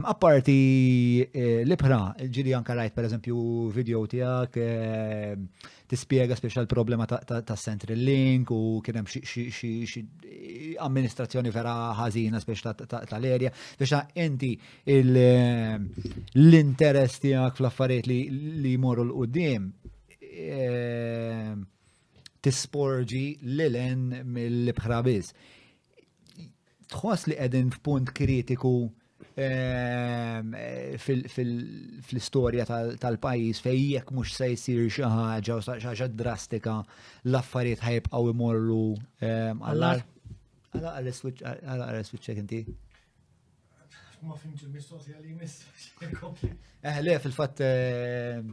Apparti eh, l-ibħra, ġili anka rajt per eżempju video tijak, eh, tispiega speċa l-problema ta' Central Link u kienem xie amministrazzjoni vera ħazina speċa tal-erja, speċa inti eh, l-interess tijak fl-affarijiet li jmorru l-qoddim tisporġi l-len mill-ibħra biz. tħoss li qegħdin f'punt kritiku ehm, fl-istorja tal-pajjiż fejn jekk mhux se jsir xi ħaġa u xi ħaġa drastika l-affarijiet ħajbqgħu imorru ehm, għall-ar. Għala għal switchek inti? Ma fimx il-mistoqsija li jmiss. Eh, le, fil-fatt ehm,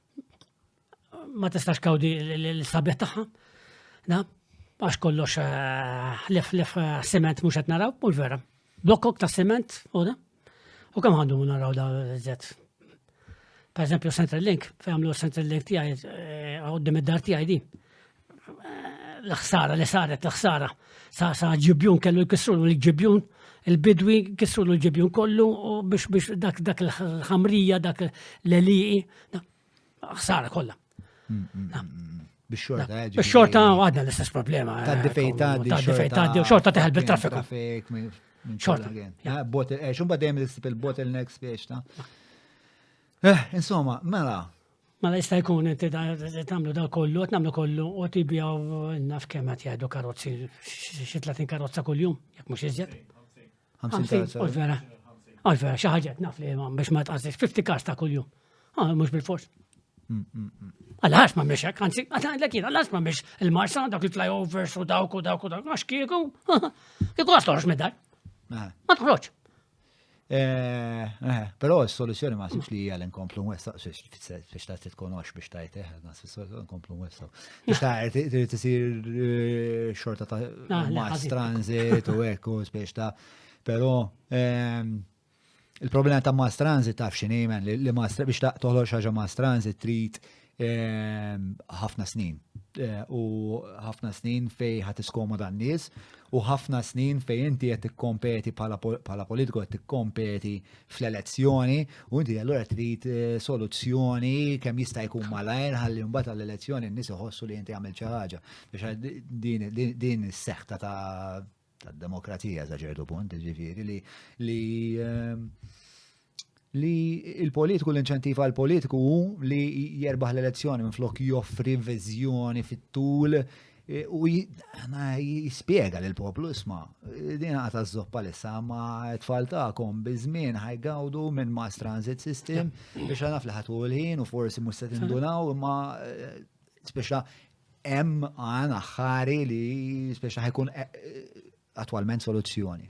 ma tistax kawdi l-sabiħ tagħha. Na, għax kollox eh, lef lef eh, siment mhux qed naraw, mhux vera. Blokkok ta' siment u da. U kemm għandu naraw da żed. Per eżempju Central Link, fejn għamlu Central Link tiegħi eh, għoddim id-dar tiegħi di. l-ħsara li saret l-ħsara sa sa ġibjun kellu jkissru l-ġibjun il-bidwi kissru l-ġibjun kollu biex biex dak dak l-ħamrija dak l-eliqi ħsara kollha. Mm, mm, mm, biex xorta Biex xorta għadna l-istess problema. Ta' difej ta' difej ta' xorta teħel bil-traffiku. Xorta. Ah, bottle, eh, xumba dejjem l-istess il-bottlenecks biex ta' Eh, insomma, mela, Mela jista' jkun inti tagħmlu da kollu, qed nagħmlu kollu u tibjaw naf kemm qed jgħidu karozzi xi 30 karozza kuljum, jekk mhux iżjed. 50 karozza. U vera. U vera xi ħaġa naf li biex ma tqasix 50 kars ta' kuljum. Ah, mhux bil-fors. Mm, mm, mm. Għalax ma miex hekk, anzi, għandek jien, għalax ma miex il-marsa, dak il-flyovers u dawk u dawk u dawk, għax kieku, kieku għastorx medal. Ah. Ma tħroċ. Però s-soluzzjoni ma sibx li hija li nkomplu nwessaw, biex ta' titkonox biex ta' jteħ, nkomplu nwessaw. Biex ta' trid isir eh, xorta ta' ah, mass transit u ekku, biex ta' però ehm, il-problema ta' mass transit taf x'inhi li mass biex ta' toħloq xaġa mass transit trid Ehm, ħafna snin. Eh, u ħafna snin fej ħat iskomoda n-nies u ħafna snin fej inti qed tikkompeti bħala politiku qed tikkompeti fl-elezzjoni u inti allura trid eh, soluzzjoni kemm jista' jkun malajr ħalli mbagħad għall-elezzjoni n-nies iħossu li inti għamil xi ħaġa biex din is-seħta ta' tad-demokrazija sa ċertu punt, ġifieri li li li il-politiku l-inċentiv għal politiku hu li jerbaħ l-elezzjoni minn flok joffri viżjoni fit-tul e, u jispiega l poplu isma e, din għata z-zoppa l-issa ma tfal ta'kom bizmin ħajgawdu minn mass transit system biex għana fl-ħatu l-ħin u forsi musta tindunaw imma e, speċa hemm għan aħħari li speċa ħajkun eh, attwalment soluzzjoni.